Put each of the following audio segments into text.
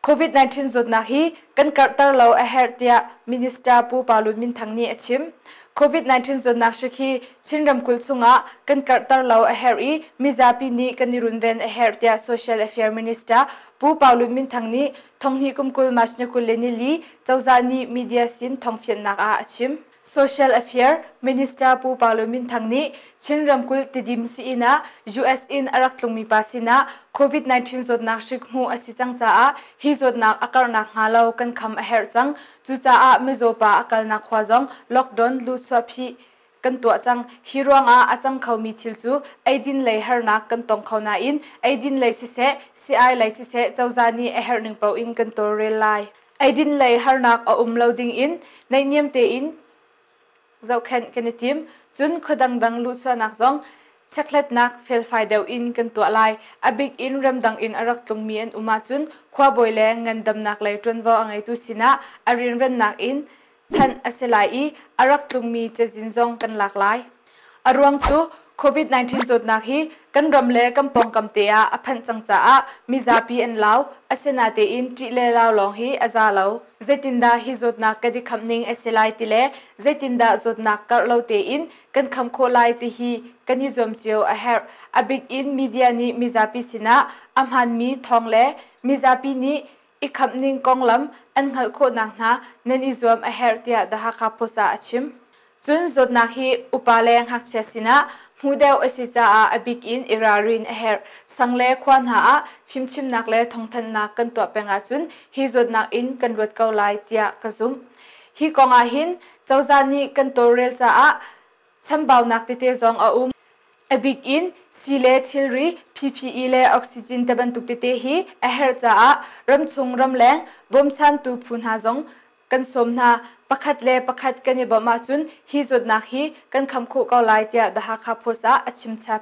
COVID-19 zawtnak hi kan karhter lo a herh tiah Minister Pu Pa Lun Min Thang nih a chim. COVID-19 zawtnak hrik hi Chin ramkulh chungah kan karhter lo a herh i mizapi nih kan i runven a herh tiah Social Affairs Minister Pu Pa Lun Min Thang nih Thonghni kum kul March ni kul le nili cozah nih media sin thongfiannak ah a chim. Social Affair Minister Pu Parlo Min Thang nih Chin ramkulh Tidim si-inn ah US in a rak tlungmi pa sinah COVID-19 zawtnak hrik hmuh a si cang caah hi zawtnak a karhnak hnga lo kan kham a herh cang. Cucaah mizaw pa a kalnak khua zong lockdown luhchuah phih kan tuah cang. Hi ruangah a cang khomi thil cu eidin lei harnak kan tong kho nain eidin lei siseh, si-ai lei siseh cozah nih a herh ning paoh in kan tawlrel lai. Eidin lei harnak a um lo dingin neihniam tein zohkhenh kan i tim. Cun khua dangdang luhchuahnak zong chekhlatnak felfai deuh in kan tuah lai. A bik in ramdang in a rak tlungmi an um ahcun khuabawi le ngandamnak lei ṭuanvo a ngeitu sinah a rinrennak in thanh a si lai i a rak tlungmi cazin zong kan lak lai. A ruang cu COVID-19 zawtnak hi kan ram le kan pawngkam te ah a phanh cang caah mizapi an lau, asinatein ṭih le lau lawng hi a za lo. Zeitindah hi zawtnak kan i khamh ning a si lai ti le zeitindah zawtnak karh lo tein kan kham khawh lai ti hi kan i zuam cio a herh. A bik in media nih mizapi sinah a hmaanmi thawng le mizapi nih i khamh ning konglam an hngalh khawhnak hna nan i zuam a herh tiah The Hakha Post ah a chim. Cun zawtnak hi upa le ngakchia sinah hmu deuh a si caah a bik in i ralrin a herh. Sang le khua hna ah fimchimnak le thawngthanhnak kan tuah peng ahcun hi zawtnak in kan luat ko lai tiah ka zumh. Hi kong ah hin cozah nih kan tawlrel caah chambaunak tete zong a um. A bik in sii le thilri, PPE le oxygen te bantuk tete hi a herh caah ramchung ramleng bawmchantu phu hna zong kan sawm hna. Pakhat le pakhat kan i bawmh ahcun hi zawtnak hi kan kham khawh ko lai tiah The Hakha Post ah a chimchap.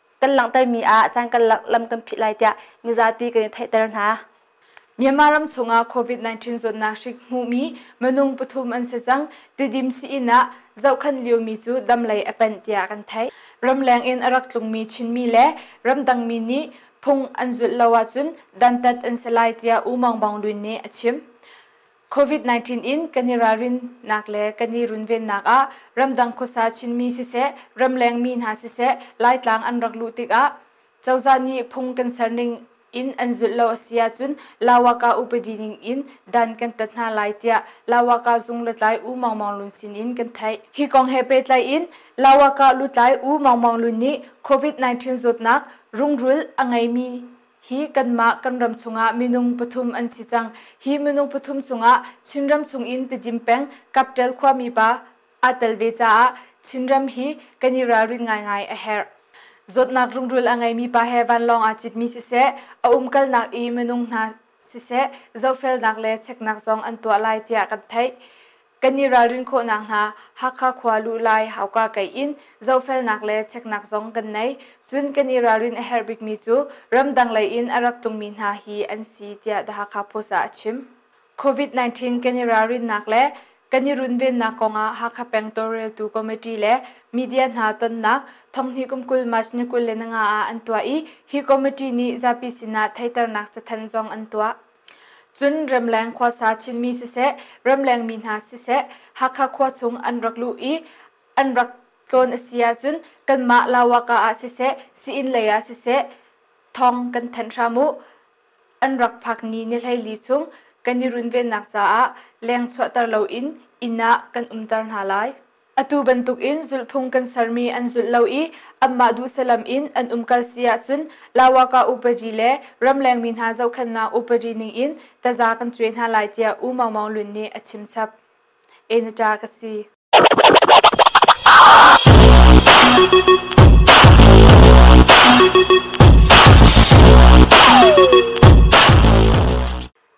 kan langhtermi ah caan kan lam kan phih lai tiah mizapi kan in theihter hna. Myanmar ram chungah COVID-19 zawtnak hrik hmuhmi minung pathum an si cang. Tidim sii-inn ah zohkhan liomi cu dam lei a panh tiah kan theih. Ramleng in a rak tlungmi Chinmi le ramdangmi nih phung an zulh lo ahcun dantat an si lai tiah U Maung Maung Lwin nih a chim. COVID-19 in kan i ralrinnak le kan i runvennak ah ramdang khuasa Chinmi siseh, ramlengmi hna siseh, Laitlang an rak luh tikah cozah nih phung kan serning in an zulh lo a si ahcun Lawaka upadi ning in dan kan tat hna lai tiah Lawaka zung lutlai U Maung Maung Lun sin in kan theih. Hi kong he pehtlai in Lawaka lutlai U Maung Maung Lun nih COVID-19 zawtnak rungrul a ngeimi hi kanmah kan ram chungah minung pathum an si cang hi minung pathum chungah chinram chung in tidim peng kaptel khuami pa aa tel ve caah chinram hi kan i ralrin ngaingai a herh zawtnak rungrul a ngeimi pa he vanlawng aa citmi siseh a umkalnak i minung hna siseh zofelnak le cheknak zong an tuah lai tiah kan theih Kan i ralrin khawhnak hna Hakha khua luhlai hauka kei in zohfelnak le cheknak zong kan nei. Cun kan i ralrin a herh bikmi cu ramdang lei in a rak tungmi hna hi an si tiah The Hakha Post ah a chim. COVID-19 kan i ralrinnak le kan i runvennak kongah Hakha Pengtaw Reltu Committee le media hna tonnak thonghni kum kul March ni kul le nga ah an tuah i hi committee nih zapi sinah theiternak cathanh zong an tuah. Cun Ramleng khuasa Chinmi siseh, Ramlengmi hna siseh, Hakha khua chung an rak luh i an rak tlawn a si ahcun kanmah Lawaka ah siseh, Sii-inn lei ah siseh thawng kan thanh hram u. An rak phak ni ni hleili chung kan i runvennak caah leng chuahter loin inn ah kan umter hna lai. Atu bantukin zulhphung kan sermi an zulh lo i anmah duhsalam in an umkal si ahcun Lawaka upadi le ramlengmi hna zohkhenhnak upadi ningin taza kan cuai hna lai tiah U Maung Maung Lun nih a chimchap. Enita ka si.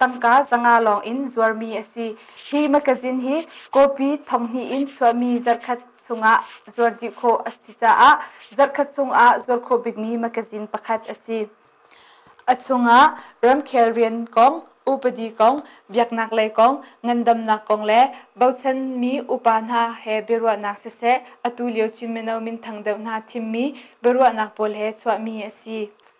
Tangka zanga lawng in zuarmi a si. Hi makazin hi copy thonghnih in chuahmi zarhkhat chungah zuar dih khawh a si caah zarhkhat chungah zuar khawh bikmi makazin pakhat a si. A chungah ramkhel rian kong, upadi kong, biaknaklei kong, ngandamnak kong le bochanmi upa hna he biaruahnak siseh, atu lio Chin mino minthang deuh hna thimmi biaruahnak pawl he chuahmi a si.